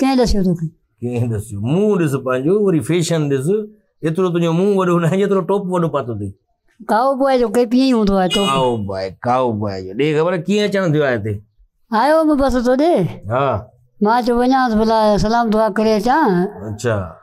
ڪنهن ڏسيو توکي؟ ڪنهن ڏسيو؟ منهن ڏس پنهنجو وري فيشن ڏس ايترو تنهنجو منهن وڏو ناهي جيترو ٽوپ وڏو پاتو اٿئي. ڪائو بوء جو ڪيپ ائين هوندو آهي ٽوپ. ڪائو بوء ڪائو بوء جو ڏي خبر ڪيئن اچڻ ٿيو آهي هتي. آيو هوم بس تو ڏي. ها. مان چيو وڃانس ڀلا سلام دعا ڪري اچان. اچا.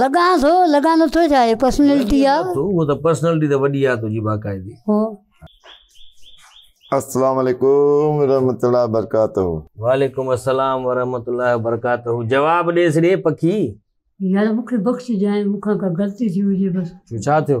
لڳان ٿو لڳان نٿو ڇا هي پرسنالٽي آ هو ته پرسنالٽي ته وڏي آ تنهنجي باقاعدي هو السلام عليڪم ورحمت الله وبرڪاته وعليڪم السلام ورحمت الله وبرڪاته جواب ڏي سڙي پکي يار مونکي بخشجانء مون کان ڪا غلطي ٿي هجي بس ڇو ڇا ٿيو؟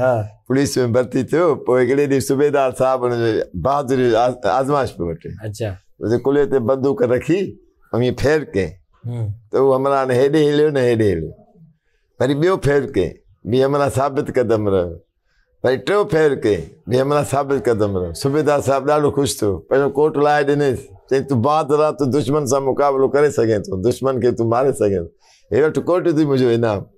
ها پوليس ۾ ڀرتي ٿيو پوء هڪڙي ڏينهن صوبيدار صاحب ان جو بهادري آزمائش پيو وٺي اچا ڪلهي تي بندوق رکي ۽ ڦير ڪئين ته هو همراهه نه هيڏي هليو نه هيڏي هليو وري ٻيو ڦير ڪئين به همراهه ثابت قدم رهيو وري ٽيو ڦير ڪئين به همراهه ثابت قدم رهيو صوبيدار صاحب ڏاڍو خوش ٿيو پنهنجو ڪوٽ لائي ڏنيس چيائين تون بهادر آهي تون دشمن سان مقابلو ڪري سگهين ٿو دشمن کي تون ماري سگهين ٿو هي وٺ ڪوٽ ٿي منهنجو انعام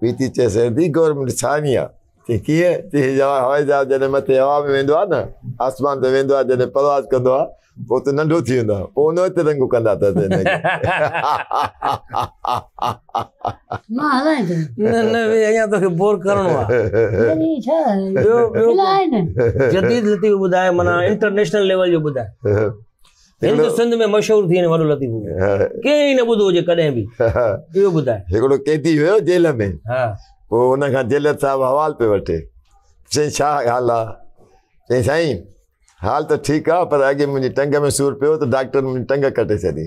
پي تي چيس ايندي گورنمينٽ ڇاني آ چي ڪيئن چي هي جوان هوائي جهاز جڏهن مٿي هوا ۾ ويندو آ نه آسمان تي ويندو آ جڏهن پرواز ڪندو آ پو تون ننڍو ٿي ويندو آ پو ان وقت رنگون ڪندا تس هن کي مان هلائين ٿو نه نه وي اڃا توکي بور ڪرڻو آ وري ڇا ٻيو ٻيو جديد لطيف ٻڌاء منا انٽرنيشنل ليول جو ٻڌاء هڪڙو سنڌ ۾ مشهور ٿي وڃي وڏو لطيفو ڪنهن ئي نه ٻڌو هجي ڪڏهن به اهو ٻڌاء هڪڙو قيدي هيو جيل ۾ ها پوء ان کان جيل صاحب حوال پي وٺي چي ڇا حال آ چي سائين حال ته ٺيڪ آ پر اڳي منهنجي ٽنگ ۾ سور پيو ته ڊاڪٽر منهنجي ٽنگ ڪٽي ڇڏي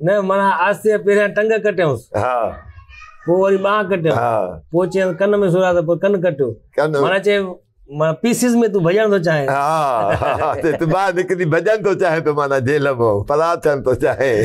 نه مانا آستي پهريان ٽنگ ڪٽيونس ها پوء وري ٻانهن ڪٽيون ها پوء چيم ڪن ۾ سورا ته پوء ڪن ڪٽيو مانا چي مانا پيسز ۾ تون ڀڄڻ ٿو چاهين ها ته تو ٻاهر نڪري ڀڄڻ ٿو چاهين ته مانا جيل مو فرار ٿيڻ ٿو چاهين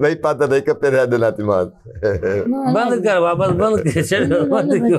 وئي پاتر هڪ پيريا ڏنا ٿي مانس بند ڪر واپس بند ڪر ڇڏ بند ڪر